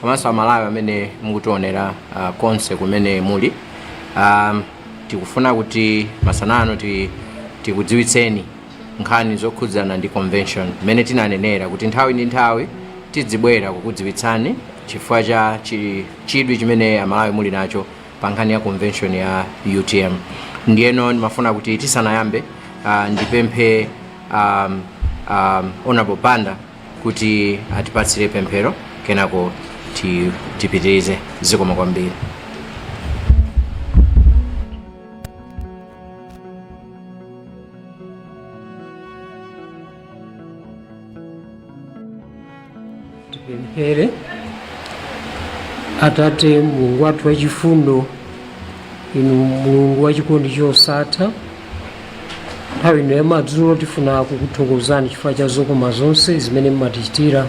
komanso amalawi amene mukutionera ah, konse kumene muli um, tikufuna kuti masana ano ti, tikudziwitseni nkhani zokhudzana ndi convention mmene tinanenera kuti nthawi ndi nthawi tidzibwera kukudziwitsani chifukwa cha chi- chidwi chimene amalawi muli nacho pa nkhani ya convention ya utm ndiyeno ndimafuna kuti tisanayambe uh, ndipemphe um, um, honorable banda kuti atipatsire pemphero kenako ti- tipitirize zikomo kwambiri tipemphere atate mulungu wathu wachifundo inu mulungu wachikondi chosatha nthawi ino yamadzulo tifuna kukuthokozani chifukwa cha zokoma zonse zimene mmatichitira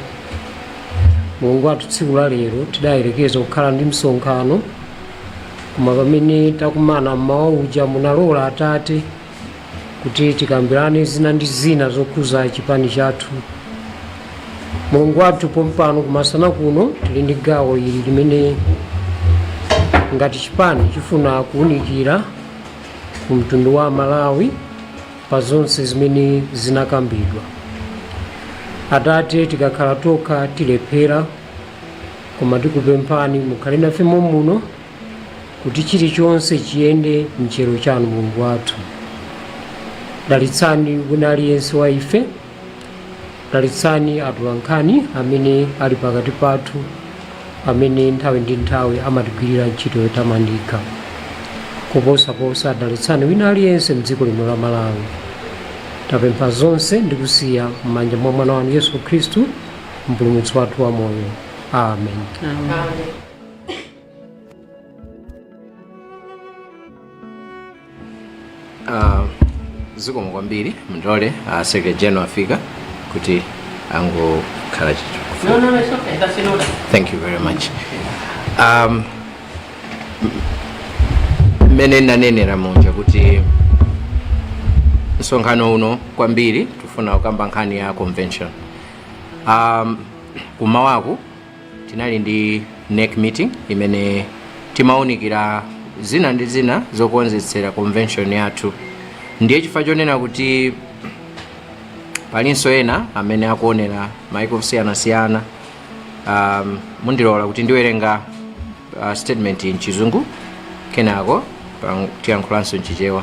mulungu wathu tsiku la lero tidayerekeza kukhala ndi msonkhano koma pamene tinakumana mmawa uja munalola atate kuti tikambirane zina ndi zina zokhuza chipani chathu mulungu wathu pompano kumasana kuno tili ndi gawo ili limene ngati chipani chifuna kuwunikira ku mtundu wa malawi pa zonse zimene zinakambidwa atate tikakhala tokha tilephera koma tikupemphani mukhale nafe momuno kuti chilichonse chiyende m'chiyero chanu mulungu wathu dalitsani wina aliyense wa ife dalitsani atolankhani amene ali pakati pathu amene nthawi ndi nthawi amatigwirira ntchito yotamandika koposaposa dalitsani wina aliyense mdziko lino la malawi tapempha zonse ndi kusiya m'manja mwa mwana wanu yesu khristu mpulumutsi wathu wa moyo amen Amen. Ah, zikomo kwambiri mundilole uh, a secretary general afika kuti angokhala choncho No, no, no, it's okay. That's in order. thank you very much um, mmene nanenera muja kuti msonkhano uno kwambiri tifuna kukamba nkhani ya convention um, kumawaku tinali ndi NEC meeting imene timawunikira zina ndi zina zokonzetsera convention yathu ndiye chifukwa chonena kuti palinso ena amene akuonera maiko osiyanasiyana um, mundilola kuti ndiwerenga uh, statement mchizungu kenako pa- tiyankhulanso mchichewa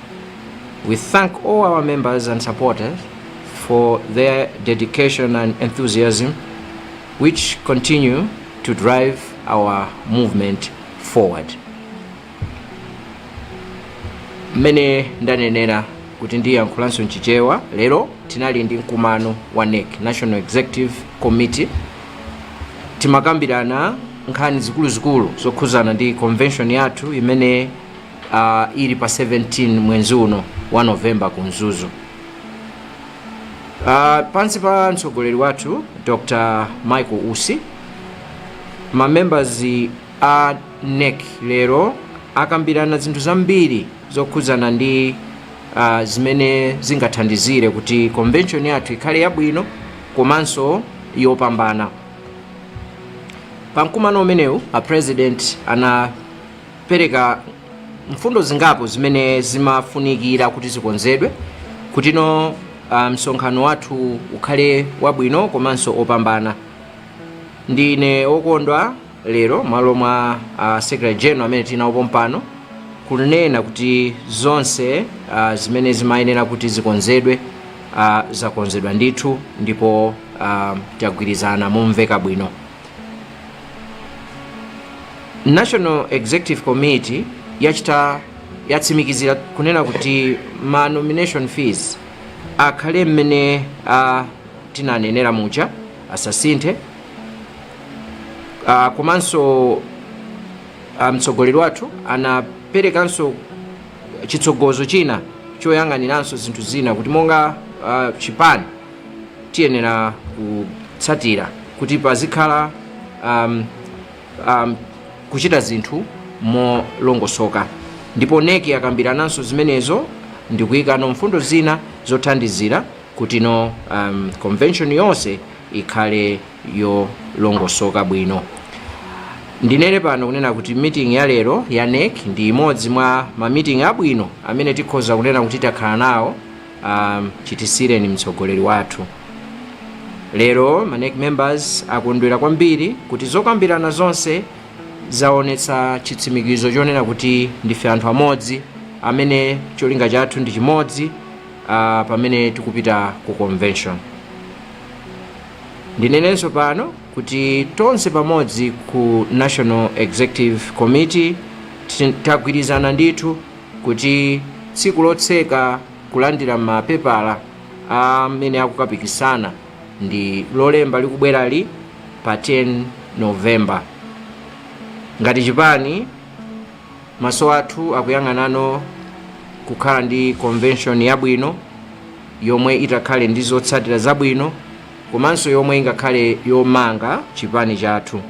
We thank all our members and supporters for their dedication and enthusiasm, which continue to drive our movement forward. mmene ndanenera kuti ndiyankhulanso mchichewa lero tinali ndi mkumano wa nec national executive committee timakambirana nkhani zikuluzikulu zokhuzana ndi convention yathu imene uh, ili pa 17 mwenzi uno wa November ku mzuzu uh, pansi pa mtsogoleri wathu dr michael usi mamembers a nec lero akambirana zinthu zambiri zokhudzana ndi uh, zimene zingathandizire kuti convention yathu ikhale yabwino komanso yopambana pa mkumano umenewu a president ana pereka mfundo zingapo zimene zimafunikira kuti zikonzedwe kutino ah, msonkhano wathu ukhale wabwino komanso opambana ndine okondwa lero malo mwa uh, secretary general amene tinawo pompano kunena kuti zonse uh, zimene zimayenera kuti zikonzedwe uh, zakonzedwa ndithu ndipo uh, tagwirizana momveka bwino national executive committee yatsimikizira kunena kuti ma nomination fees akhale mmene uh, tinanenera muja asasinthe uh, komanso uh, mtsogoleri wathu anaperekanso chitsogozo china choyang'aniranso zinthu zina kuti monga uh, chipani tiyenera kutsatira kuti pazikhala um, um, kuchita zinthu molongosoka ndipo NEC akambirananso zimenezo ndikuyikano mfundo zina zothandizira kutino um, convention yonse ikhale yolongosoka bwino ndinene pano kunena kuti meeting ya lero ya NEC ndi imodzi mwa ma meeting abwino amene tikhoza kunena kuti takhala nawo ah chitisiyireni mtsogoleri wathu lero manec members akondwera kwambiri kuti zokambirana zonse zaonetsa chitsimikizo chonena kuti ndife anthu amodzi amene cholinga chathu ndi chimodzi ah, pamene tikupita ku convention ndinenenso pano kuti tonse pamodzi ku national executive committee ti- tagwirizana ndithu kuti tsiku lotseka kulandira mapepala amene akukapikisana ndi lolemba likubwerali pa 10 november ngati chipani maso athu akuyang'anano kukhala ndi convention yabwino yomwe itakhale ndi zotsatira zabwino komanso yomwe ingakhale yomanga chipani chathu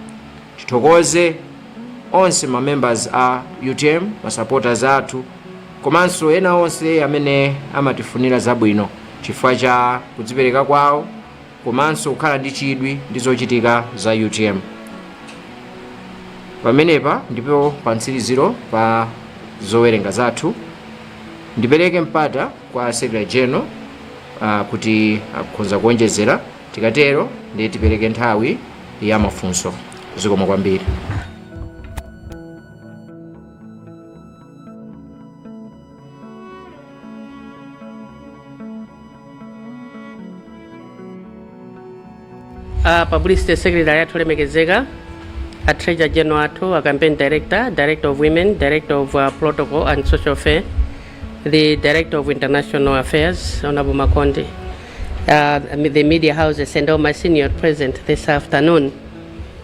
Tithokoze onse ma members a utm, ma supporters athu komanso ena onse amene amatifunira zabwino chifukwa cha kudzipereka kwawo komanso kukhala ndi chidwi ndi zochitika za utm. Pamenepa ndipo pa mtsiriziro pa zowerenga zathu ndipereke mpata kwa Secretary General ah, kuti akhonza kuonjezera. Tikatero ndiye tipereke nthawi ya mafunso. Zikomo kwambiri. a publicity secretary athu olemekezeka a treasurer general athu a campaign director director of women director of uh, protocol and social affairs the director of international affairs honorable makonde uh, the media houses and all my senior present this afternoon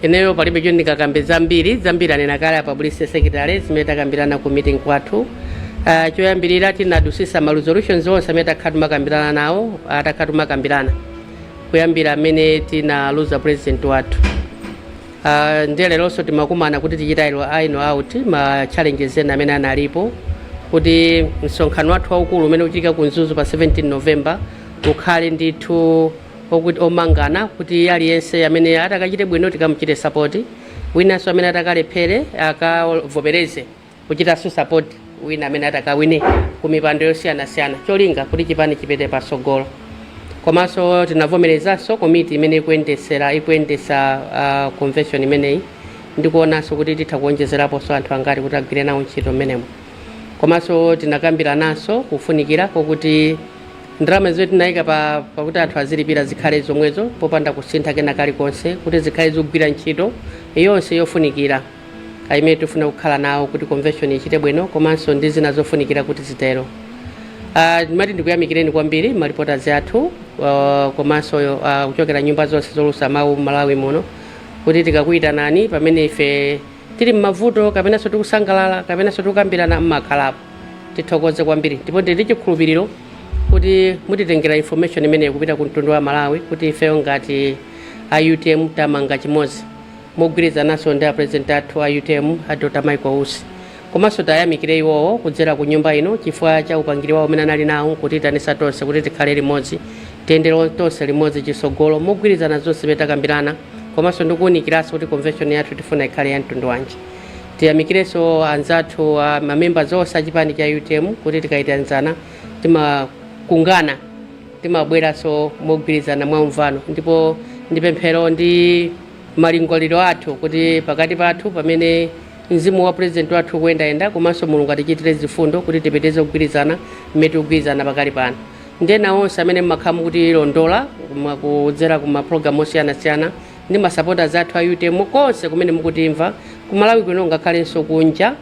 ineyo palibe choti ndikakambe zambiri zambiri anena kale a publicity secretary zimene takambirana ku meeting wathu uh, choyambirira tinadusisa ma resolutions onse amene takhala timakambirana nawo uh, takhala timakambirana kuyambira mmene tinaluza president wathu Uh, ndiye leronso timakumana kuti tichite iro- iron out ma challenges ena amene analipo kuti msonkhano wathu waukulu umene uchitika ku Mzuzu pa 17 November ukhale ndithu okuti womangana kuti aliyense amene atakachite bwino tikamuchite support winanso amene atakalephere akavomereze kuchitaso support wina amene atakawine kumipando yosiyanasiyana cholinga kuti chipani chipite pasogolo komanso tinavomerezanso komiti imene ikuyendesera ikuyendetsa uh, convention imeneyi ndikuonanso kuti titha kuonjezeraponso anthu angati kuti agwire nawo ntchito mmenemo komanso tinakambirananso kufunikira kokuti ndalama zimene tinayika pa- pakuti anthu azilipira zikhale zomwezo popanda kusintha kena kalikonse kuti zikhale zikugwira ntchito yonse yofunikira imene tifuna kukhala nawo kuti convention ichite bwino komanso ndi zina zofunikira kuti zitero Ah, ndimati ndikuyamikireni kwambiri maripotazi athu ah, komanso ah, kuchokera nyumba zonse zoulutsa mawu malawi muno kuti tikakuyitanani pamene ife tili mmavuto kapenanso tikusangalala kapenanso tikukambirana mmakhalapo tithokoze kwambiri ndipo ndili chikhulupiriro kuti mutitengera information imeneyo kupita ku mtundu wa malawi kuti ifeyo ngati a utm tamanga chimodzi mogwirizananso ndi a president athu a utm a Dr Michael Usi komanso tayamikire iwowo kudzera ku nyumba ino chifukwa cha upangiri wawo umene anali nawo nkutiitanitsa tonse kuti tikhale limodzi tiyendere tonse limodzi chisogolo mogwirizana zonse zimene takambirana komanso ndikuwunikiranso kuti convention yathu tifuna ikhale ya mtundu wanji tiyamikirenso anzathu a mamembers onse a chipani cha utm kuti tikayitanizana timakungana timabweranso mogwirizana mwa umvano ndipo ndi pemphero ndi malingaliro athu kuti pakati pathu pamene mzimu wa president wathu ukuyendayenda komanso mulungu atichitire zifundo kuti tipitirize kugwirizana mmene tikugwirizana pakali pano ndi ena onse amene mmakhala mukutilondola mwa- kudzera ku mapulogalamu osiyanasiyana ndi masapota athu a utm konse kumene mukutimva ku Malawi kuno ngakhalenso kunja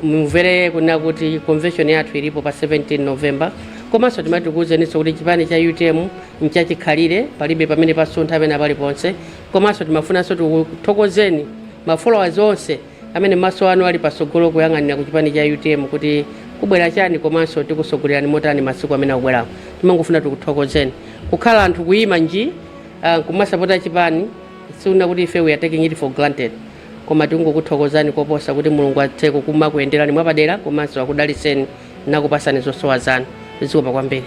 mumvere kunena kuti convention yathu ilipo pa 17 november komanso timati tikuwuzeninso kuti chipani cha utm nchachikhalire palibe pamene pasuntha pena paliponse komanso timafunanso tikuthokozeni ma followers onse amene maso anu ali pasogolo kuyang'anira ku chipani cha utm kuti kubwera chani komanso tikusogolerani motani masiku amene akubwerawo timangofuna tikuthokozeni kukhala anthu kuyima nji ah, kumasapota chipani sikunena kuti ife we are taking it for granted koma tikungokuthokozani koposa kuti mulungu athe kukumakuyenderani mwapadera komanso akudaliseni nakupasani zosowa zanu zikomo kwambiri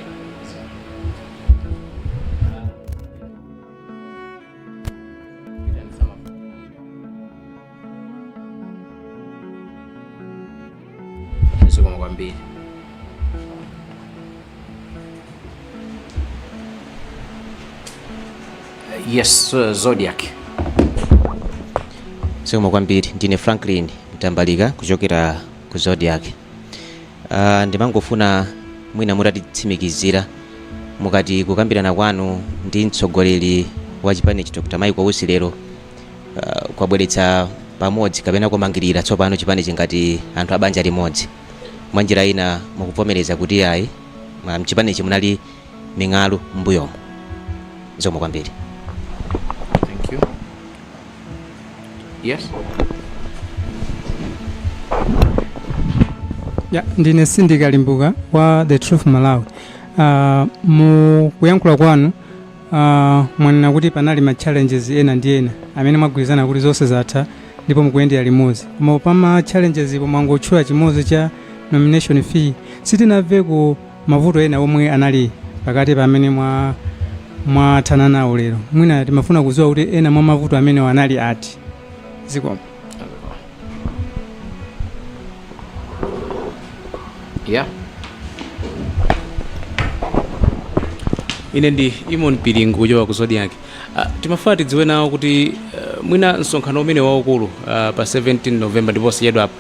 zikomo kwambiri yes uh, zodiac zikomo kwambiri ndine franklin mtambalika kuchokera ku zodiac Uh, ndimangofuna mwina mutatitsimikizira mukati kukambirana kwanu ndi mtsogoleri wa chipanichi Dr. Michael Usi lero uh, kwabweretsa pamodzi kapena kumangirira tsopano chipanichi ngati anthu abanja limodzi mwa njira ina mukuvomereza kuti ayi mwa- mchipanichi munali ming'alu m'mbuyomu zikomo kwambiri Thank you. Yes. ya ndine Sindika Limbuka wa the truth malawi uh, mu kuyankhula kwanu uh, mwanena kuti panali ma challenges ena ndi ena amene mwagwirizana kuti zonse zatha ndipo mukuyendera limodzi koma pa ma challenges-po mwangotchula chimodzi cha nomination fee sitinamveko mavuto ena omwe anali pakati pamene mwa mwathana nawo lero mwina timafuna kudziwa kuti ena mwa mavuto amenewo anali ati zikomo yeah. ine ndi Eamon Piringu kuchoka ku zodiak uh, timafuna tidziwe nawo kuti uh, mwina msonkhano umene waukulu uh, pa 17 november ndiponso yedwa apa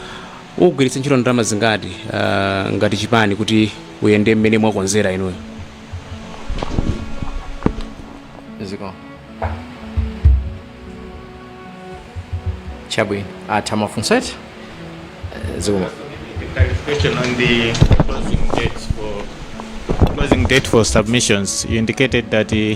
Ugwiritsa ntchito ndalama zingati uh, ngati chipani kuti uyende mmene mwakonzera inuyo? Zikomo. Chabwino. Atha mafunso eti? Eh, Zikomo. Clarification on the closing dates for closing date for submissions. You indicated that uh,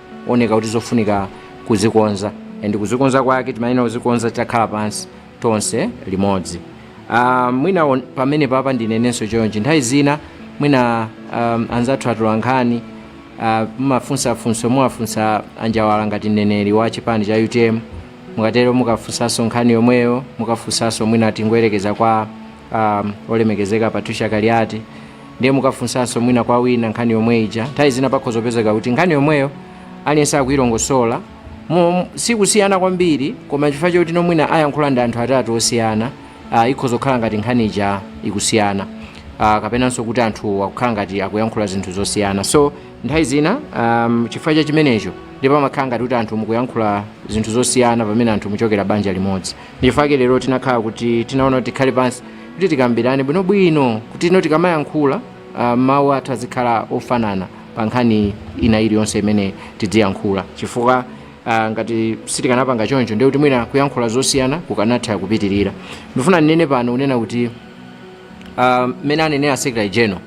oneka kuti zofunika kuzikonza and kuzikonza kwake timayenera kuzikonza titakhala pansi tonse limodzi uh, mwina on- pamene papa ndinenenso chonchi nthawi zina mwina um, anzathu atolankhani uh, mumafunsa funso muwafunsa a njawala ngati mneneri wa chipani cha utm mukatero mukafunsanso nkhani yomweyo mukafunsanso mwina tingoyerekeza kwa um, olemekezeka patricia kaliati ndiye mukafunsanso mwina kwa wina nkhani yomwe ija nthawi zina pakhoza kupezeka kuti nkhani yomweyo aliyense akuyilongosola Mo- sikusiyana kwambiri koma chifukwa choti no mwina ayankhula ndi anthu atatu osiyana uh, ikhoza kukhala ngati nkhani ija ikusiyana uh, kapenanso kuti anthu akukhala ngati akuyankhula zinthu zosiyana so nthawi zina um, chifukwa cha chimenecho ndi pomwe amakhala ngati kuti anthu mukuyankhula zinthu zosiyana pamene anthu muchokera banja limodzi ndichifukwa chake lero tinakhala kuti tinaona kuti tikhale pansi kuti tikambirane bwinobwino kuti ino tikamayankhula ah, mawu athu azikhala ofanana pa nkhani ina iliyonse imene tidziyankhula chifukwa ah, ngati sitikanapanga choncho ndiye kuti mwina kuyankhula zosiyana kukanatha kupitirira ndifuna ndinene pano kunena kuti ah, mmene anenera secretary general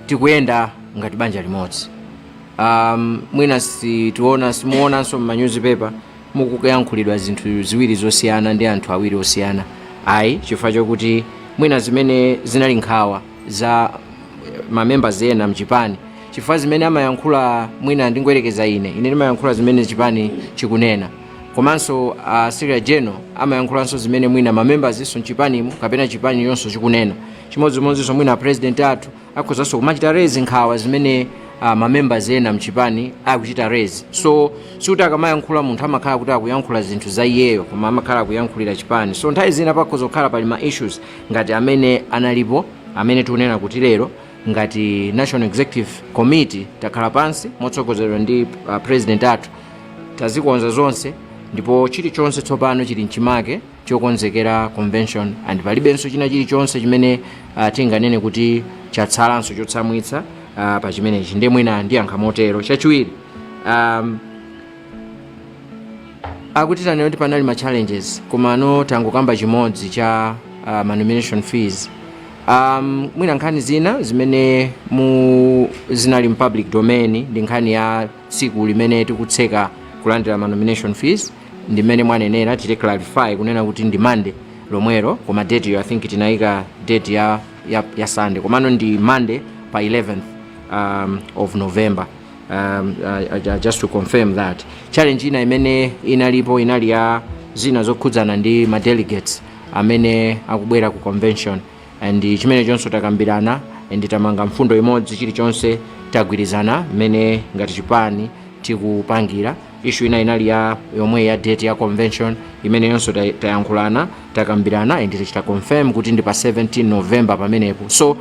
tikuyenda ngati banja limodzi um, mwina sitiona simuonanso m'manyuzipepa mukuyankhulidwa zinthu ziwiri zosiyana ndi anthu awiri osiyana ayi chifukwa chokuti mwina zimene zinali nkhawa za mamembers ena mchipani chifukwa zimene amayankhula mwina ndingoyerekeza ine ine ndimayankhula zimene chipani chikunena komanso uh, secretary general amayankhulanso zimene mwina mamembers-nso mchipanimo kapena chipani yonso chikunena chimodzimodzinso mwina president athu akhozanso kumachita raise nkhawa zimene uh, mamembers ena mchipani akuchita raise so sikuti akamayankhula munthu amakhala kuti akuyankhula zinthu za iyeyo koma amakhala akuyankhulira chipani so nthawi zina pakhoza kukhala pali ma issues ngati amene analipo amene tikunena kuti lero ngati national executive committee takhala pansi motsogozedwa ndi uh, president athu tazikonza zonse ndipo chilichonse tsopano chili mchimake chokonzekera convention and palibenso china chilichonse chimene uh, tinganene kuti chatsalanso chotsamwitsa uh, pa chimenechi ndiye mwina ndiyankha motero chachiwiri um, akuti tanena kuti panali ma challenges komano tangokamba chimodzi cha uh, ma nomination fees um, mwina nkhani zina zimene mu zinali mu public domain ndi nkhani ya tsiku limene tikutseka kulandira ma nomination fees ndi mmene mwanenera tichite clarify kunena kuti ndi monday lomwero koma date yo i think tinayika date ya, ya, ya sunday komano ndi monday pa 11th um, of november um, uh, uh, just to confirm that challenge ina imene inalipo inali ya zina zokhudzana ndi ma delegates amene akubwera ku convention and chimenechonso takambirana and tamanga mfundo imodzi chilichonse tagwirizana mmene ngati chipani tikupangira issue ina inali yomweyi ya date ya convention imeneyonso tay- tayankhulana takambirana and tachita confirm kuti ndi pa 17 november pamenepo so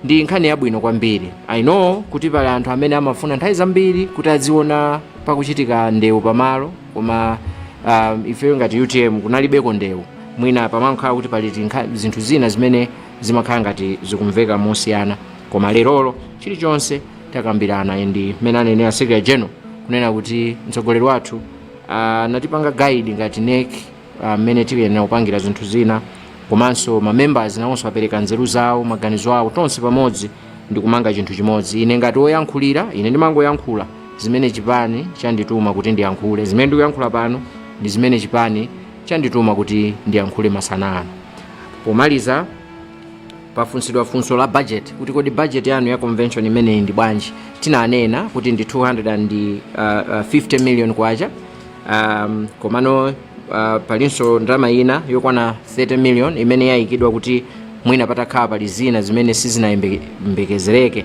ndi nkhani yabwino kwambiri i know kuti pali anthu amene amafuna nthawi zambiri kuti aziona pakuchitika ndewu pamalo koma um, ifeyo ngati utm kunalibeko ndewu mwina pamakhala kuti pali tinkha- zinthu zina zimene zimakhala ngati zikumveka mosiyana koma lerolo chilichonse takambirana ndi mmene anenera secretary general kunena kuti mtsogoleri wathu anatipanga guide ngati NEC mmene uh, tiyenera kupangira zinthu zina komanso ma members nawonso apereka nzeru zawo maganizo awo tonse pamodzi ndi kumanga chinthu chimodzi ine ngati woyankhulira ine ndimangoyankhula zimene chipani chandituma kuti ndiyankhule zimene ndikuyankhula pano ndi zimene chipani chandituma kuti ndiyankhule masana ano pomaliza pafunsidwa funso la budget kuti kodi budget yanu ya convention imeneyi ndi bwanji tinanena kuti ndi 250 million kwacha um, komano uh, palinso ndalama ina yokwana 30 million imene yayikidwa kuti mwina patakhala pali zina zimene sizinayembekezereke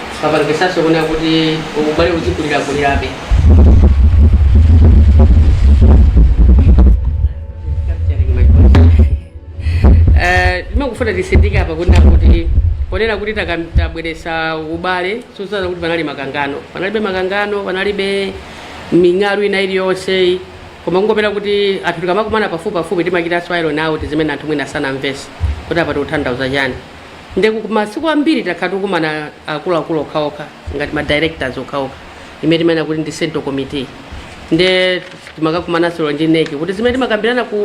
papangisanso kunena kuti ubale uzikulirakulirabe Eh, ndimangofuna titsindike apa kunena kuti ponena kuti taka- tabweretsa ubale sizikutanthauza kuti panali makangano panalibe makangano panalibe ming'alu ina iliyonse koma kungofuna kuti anthu tikamakumana pafupipafupi timachitanso iron out zimene anthu mwina sanamvetse kuti apa tikutanthauza chani nde masiku ambiri takhala tikukumana akuluakulu okhaokha ngati ma directors okhaokha imene timanena kuti ndi central committee nde timakumananso lero ndi NEC kuti zimene timakambirana ku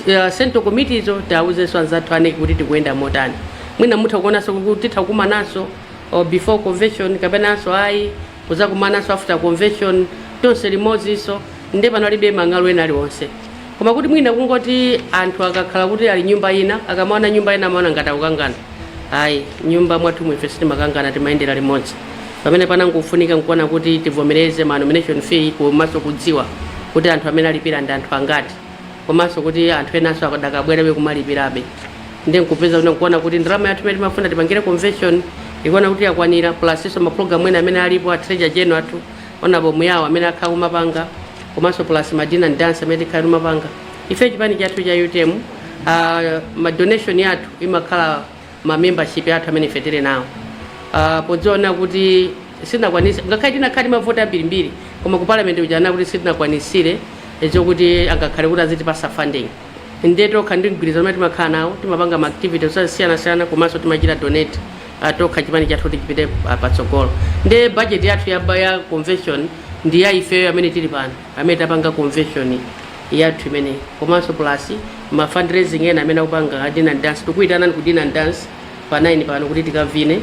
uh, central committee zo tiwauzenso anzathu a NEC kuti tikuyenda motani mwina mutha kuonanso kuti titha kukumananso or before convention kapenanso ayi kuzakumananso after convention tonse limodzinso nde panalibe ming'alu ina iliyonse Koma kuti mwina kungoti anthu akakhala kuti ali nyumba ina, akamaona nyumba ina amaona ngati akukangana. Ayi, m'nyumba mwathumu ife sitimakangana, timayendera limodzi. Pamene pamangofunika n'kuona kuti tivomereze ma nomination fee komanso kudziwa kuti anthu amene alipira ndi anthu angati komanso kuti anthu enanso akadakabwerabe kumalipirabe. Ndiye n'kupeza kuona kuti ndalama yathu imene timafuna tipangire convention n'kuona kuti yakwanira plus-nso mapulogalamu ena amene alipo a Treasurer General athu Honourable Muyao amene akhala kumapanga komanso plus ma dinner and dance amene tikhala kumapanga ife chipani chathu cha UTM uh, ma donation yathu imakhala ma membership yathu amene ife tili nawo uh, podziona kuti sitinakwanise ngakhale tinakhala ndi mavoti ambirimbiri koma ku parliament ujana kuti sitinakwanisire eh, zokuti angakhale kuti azitipasa funding nde tokha ndi mgwirizano umene timakhala nawo timapanga ma activities osiyanasiyana komanso timachita donate patokha chipani chathu kuti chipite pa- patsogolo nde budget yathu ya, ya convention ndi ya ifeyo amene tili pano amene tapanga convention yathu imeneyi komanso plus ma fundraising ena amene akupanga a dinner and dance tikuyitanani ku dinner and dance pa 9 pano kuti tikavine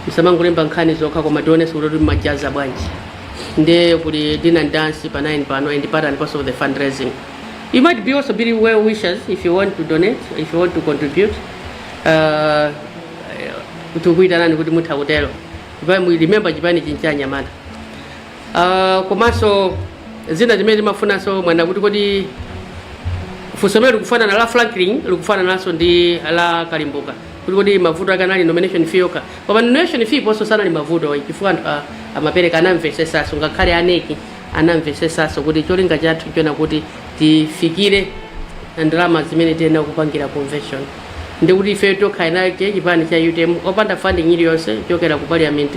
musamangolemba nkhani zokha koma tionenso kuti kuti mumajaza bwanji nde kuli dinner and dance pa 9 pano and part and parcel of the fundraising you might be also be well wishers if you want to donate if you want to contribute uh, tikukuyitanani kuti mutha kutero Chipani- mu- remember chipani chino n'cha anyamata Ah, komanso zina zimene timafunsa kunena kuti kodi funso limene likufanana la franklin likufanananso ndi la kalimbuka kuti kodi mavuto ake anali nomination fee yokha koma nomination fee panonso sanali mavuto chifukwa anthu a- amapereka anamvesesaso ngakhale a NEC anamvesesaso kuti cholinga chathu chonena kuti tifikire ndalama zimene tiyenera kupangira convention Ndiye kuti ifeyo tokha eni ake, chipani cha utm, opanda funding iliyonse kuchokera ku parliament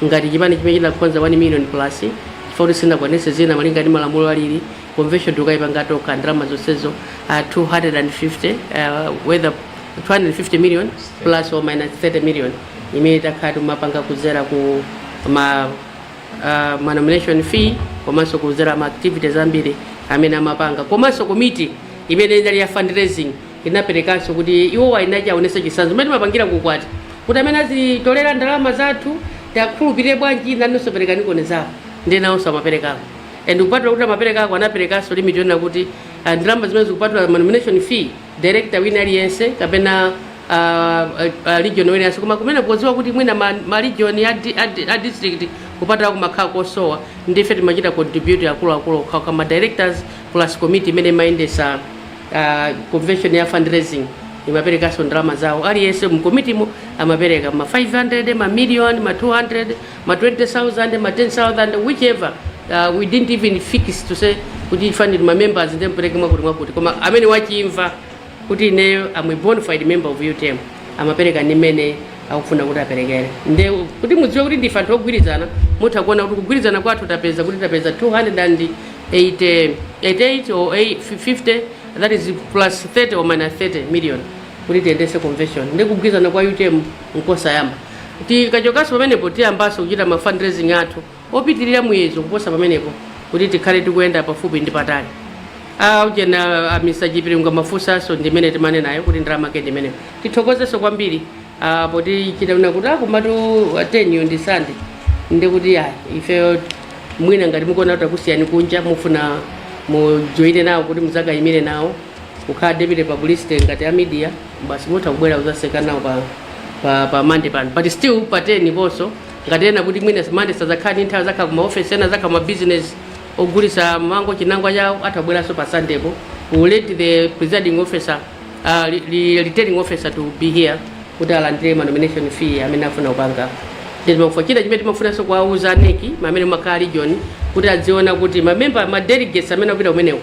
ngati chipani chimene chinakoza 1 million plus chifukwa kuti sitinakwanitse zina malinga ndi malamulo alili, convention tikayipanga tokha ndalama zonsezo uh, 250 uh, whether 250 million plus or minus 30 million imene takhala tikumapanga kudzera ku ma uh, ma nomination fee komanso kudzera ma activities ambiri amene amapanga komanso komiti imene inali ya fundraising Inaperekanso kuti iwowa eni ake aonetse chitsanzo mmene timapangira ku ukwati kuti amene azitolera ndalama za anthu tiakhulupirire bwanji nawonso aperekeko zawo ndiye nawonso amaperekako and kupatula kuti amaperekako anaperekanso limit yonena kuti ah, ndalama zimene zikupatula ma nomination fee director wina aliyense kapena ah, ah, ah, region wina aliyense koma kumene kudziwa kuti mwina ma, ma region a, di- a, di- a district kupatula kumakhala kosowa ndife timachita contribute akuluakulu okhaokha ma directors plus committee imene imayendesa Uh, convention ya fundraising imaperekanso ndalama zawo aliyense mkomitimo amapereka ma 500 ma million ma 200 ma 20000 ma 10000 whichever uh, we didn't even fix to say kuti afanire ma members ndi mpereke mwakuti mwakuti koma amene wachimva kuti ineyo am a bona fide member of utm amapereka ndi mmene akufuna kuti aperekere nde kuti mudziwe kuti ndife anthu ogwirizana mutha kuona kuti kugwirizana kwathu tapeza kuti tapeza 200 and 80, 88 or 8, 50 that is plus 30 or minus 30 million kuti tiyendese convention ndi kugwirizana kwa utm nkosayamba tikachokanso pamenepo tiyambanso kuchita ma fundraising athu opitirira muyezo kuposa pamenepo kuti tikhale tikuyenda pafupi ndi patali aujena amisa chipiringa mafunsanso ndimene timanenayo kuti ndalama yake ndimeneyo tithokozenso kwambiri Ah, poti titaona kuti akomatu 10 yo ndi sande ndi kuti ya ifeyo mwina ngati mukuona kuti akusiyani kunja mufuna mujoine nawo kuti muzakayimire nawo kukhala deputy publicity ngati a media basi mutha kubwera kuzaseka nawo pa pa pa mande pano but still pa 10 ponso ngati ena kuti mwina mande sazakhala ndi nthawi azakhala kuma office ena azakhala ma business ogulisa mango chinangwa chawo atha kubweranso pa sunday po we will let the presiding officer Uh, li, li, returning officer to be here kuti alandire ma nomination fee amene afuna kupanga ndizimafuna china chimene timafunanso kuwauza a NEC amene makhala region kuti adziona kuti mamemba ma delegates amene akupita kumeneko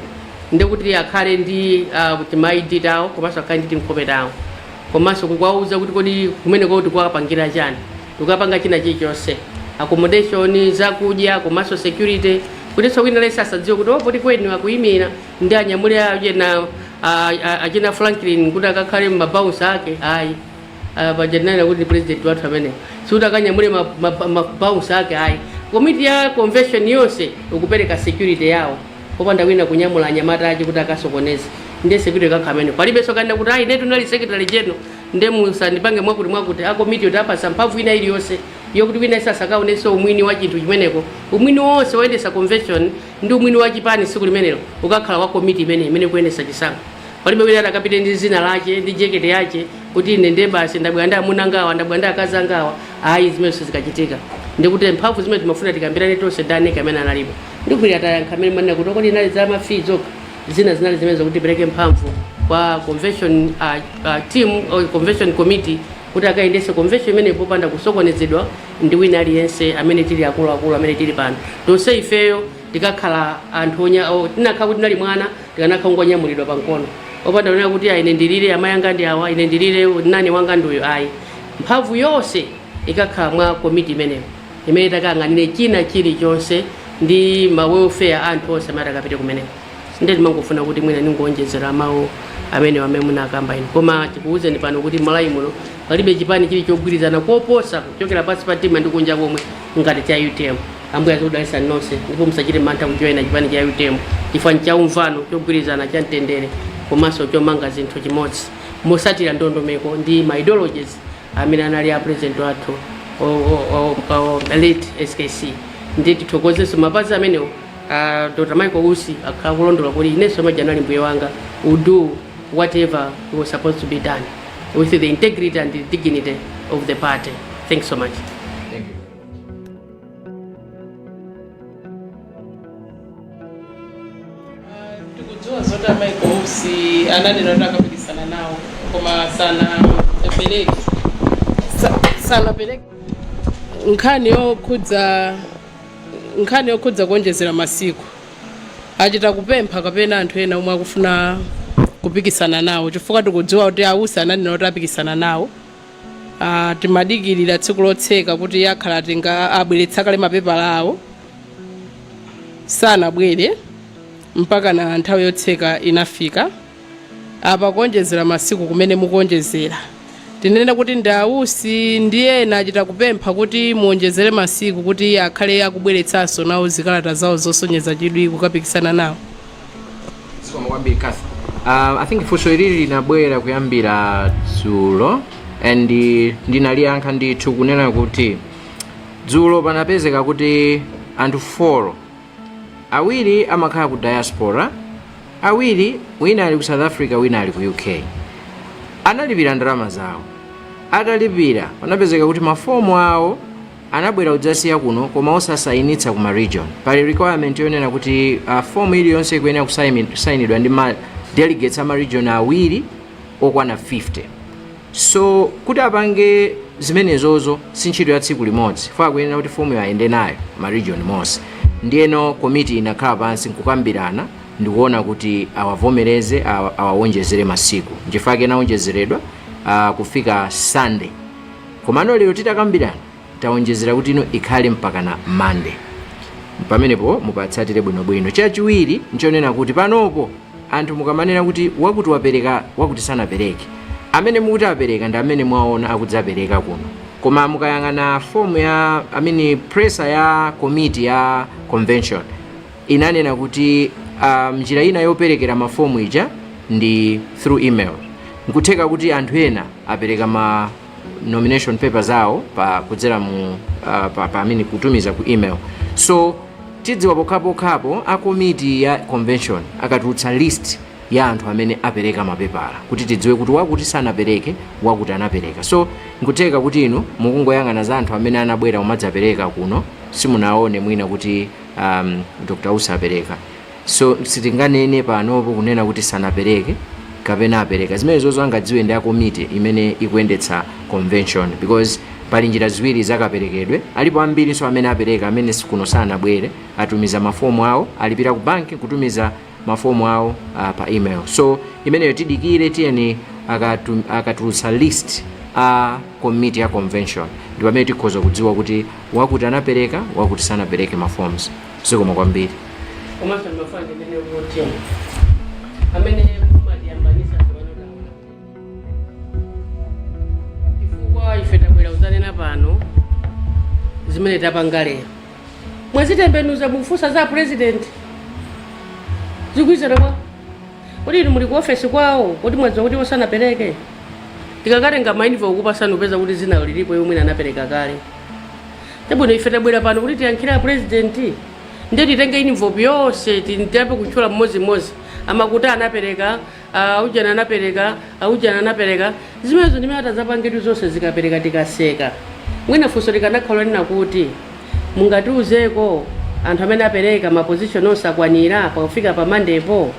ndi kuti akhale ndi uh, kuti ma ID tawo komanso akhale ndi tinkhope tawo komanso kuwauza kuti kodi kumeneko tikuwapangira chani tikapanga china chilichonse accommodation zakudya komanso security kutinso wina aliyense asadziwe kuti poti kwenu akuyimira nde anyamule achina a- a- achina franklin kuti akakhale ma bouncer ake ayi Ah, paja ndinena kuti ndi president wathu ameneyo sikuti akanyamule ma- ma- ma bouncer ake ayi komiti ya convention yonse ikupereka security yawo popanda wina kunyamula anyamata ache kuti akasokoneze nde security ikakhala imene palibenso kanena kuti ayi inetu ndinali secretary general nde musandipange mwakuti mwakuti akomiti yoti tapatsa mphamvu ina iliyonse yokuti wina asakaonenso umwini wa chinthu chimeneko umwini wonse woyendesa convention ndi umwini wa chipani tsiku limenelo ukakhala wa komiti imene imene kuyendesa chisankho palibe wina atakapite ndi dzina lache ndi jekete yache kuti ine nde basi ndabwera ndi amuna anga awa ndabwera ndi akazi anga awa ayi zimene sizikachitika ndikuti mphamvu zimene timafuna tikambirane tonse ndi a NEC amene analipo ndikuti atayankha amene manena kuti kodi inali za ma fee zokha zina zinali zimene zakuti tipereke mphamvu kwa convention uh, uh, team or convention committee kuti akayendese convention imene popanda kusokonezedwa ndi wina aliyense amene tili akuluakulu amene tili pano tonse ifeyo tikakhala anthu onya- o- tinakhala kuti tinali mwana tikanakhala kungonyamulidwa pa mkono opanda kunena kuti ayi ine ndilire amayi anga ndi awa ine ndilire nani wanga ndi uyu ayi mphamvu yonse ikakhala mwa komiti imeneyo imene itakayang'anire china chilichonse ndi ma welfare a anthu onse amene atakapite kumeneko ndiye timangofuna kuti mwina ndingowonjezera mawu amene amene munakamba inu koma tikuwuzeni pano kuti Malawi muno palibe chipani chili chogwirizana koposa kuchokera pansi pa mtima ndi kunja komwe ngati cha utm ambuye azikudalisani nonse ndipo musachite mantha kujoyina chipani cha utm chifukwa ncha umvano chogwirizana cha mtendere komanso chomanga zinthu chimodzi motsatira ndondomeko ndi ma ideologies amene anali a president wathu o- o- o- o- late skc ndiye tithokozenso mapazi amenewo a dr michael usi akhala akulondola kuti inenso mmadya nawo Ambuye wanga will do whatever was supposed to be done with the integrity and the dignity of the party thanks so much tikudziwa zoti a Michael Usi ananena kuti akapikisana nawo koma sanapereke sa- sanapereke nkhani yokhudza nkhani yokhudza kuonjezera masiku achita kupempha kapena anthu ena omwe akufuna kupikisana nawo chifukwa tikudziwa kuti a Usi ananena kuti apikisana nawo Ah, timadikirira tsiku lotseka kuti akhala atenga abweretsa kale mapepala awo sanabwere mpakana nthawi yotseka inafika apa kuonjezera masiku kumene mukuonjezera tinene kuti ndi a Usi ndi ena achita kupempha kuti muonjezere masiku kuti akhale akubweretsanso nawo zikalata zawo zosonyeza chidwi kukapikisana nawo zikomo kwambiri Cathy uh, i think funso ilili linabwera kuyambira dzulo and ndinaliyankha ndithu kunena kuti Dzulo panapezeka kuti anthu folo, awiri amakhala ku diaspora, awiri wina ali ku South Africa wina ali ku UK, analipira ndalama zawo. Atalipira panapezeka kuti mafomu awo anabwera kudzasiya kuno koma osasayinitsa ku ma region. Pali requirement yonena kuti uh, fomu iliyonse ikuyenera kusayinidwa ndi ma delegates a ma region awiri okwana 50. So kuti apange zimenezozo si ntchito ya tsiku limodzi chifukwa akuyenera kuti fomuyo ayende nayo ma region monse ndiyeno komiti inakhala pansi nkukambirana ndikuona kuti awavomereze awa- awawonjezere masiku nchifukwa chake anawonjezeredwa ah, kufika sunday komano lero titakambirana tawonjezera kuti ino ikhale mpakana monday pamenepo mupatsatire bwinobwino chachiwiri nchonena kuti panopo anthu mukamanena kuti wakuti wapereka wakuti sanapereke amene mukuti apereka ndi amene mwaona akudzapereka kuno koma mukayang'ana fomu ya amene presser ya komiti ya convention inanena kuti um, njira ina yoperekera mafomu ija ndi through email nkutheka kuti anthu ena apereka ma nomination papers zawo pa kudzera mu uh, pa, pa amin kutumiza ku email so tidziwa pokhapokhapo a komiti ya convention akatulutsa list ya anthu amene apereka mapepala kuti tidziwe kuti wakuti sanapereke wakuti anapereka so nkutheka kuti inu mukungoyang'ana za anthu amene anabwera kumadzapereka kuno simunaone mwina kuti um, dr usa apereka so sitinganene panopo kunena kuti sanapereke kapena apereka zimenezozo angadziwe ndi akomiti imene ikuyendetsa convention because pali njira ziwiri zakaperekedwe alipo ambirinso amene apereka amene kuno sanabwere atumiza mafomu awo alipira ku banki kutumiza mafomu awo uh, pa email so imeneyo tidikire tiyeni akatu- akatulutsa list a komiti ya convention ndi pamene tikhoza kudziwa kuti wakuti anapereka wakuti sanapereke maforms zikomo kwambiri komanso ndimafuna ndinene kuti amene mumatiyambanisa tiwanodawa chifukwa ife tabwera kuzanena pano zimene tapanga lero mwazitembenuza mukufunsa za purezidenti zikusiyana kwa kuti inu muli ku ofesi kwawo kuti mwadziwa kuti a usi sanapereke tikakatenga mainivopu kupasani mupeza kuti zina lilipo mwina anapereka kale chabwino ife tabwera pano kuti tiyankhire a purezidenti ndiye titenge invope yonse tiyambe kutchula mmodzimmodzi akuti anapereka aujana anapereka aujana anapereka zimenezo ndimene titazapangetu zonse zikaperekedwa tikaseka mwina funso likanakhala lonena kuti mungatiuzeko anthu amene apereka mapozishoni onse akwanira pakufika pamandepo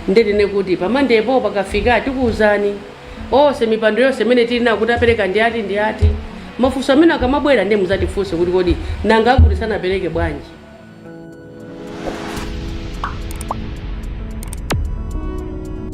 nde tinene kuti pamandepo pakafika tikuwuzani Onse mipando yonse imene tili nayo kuti apereka ndi ati ndi ati. Mafunso amene akamabwera ndiye muzatifunse kuti kodi nanga akuti sanapereke bwanji.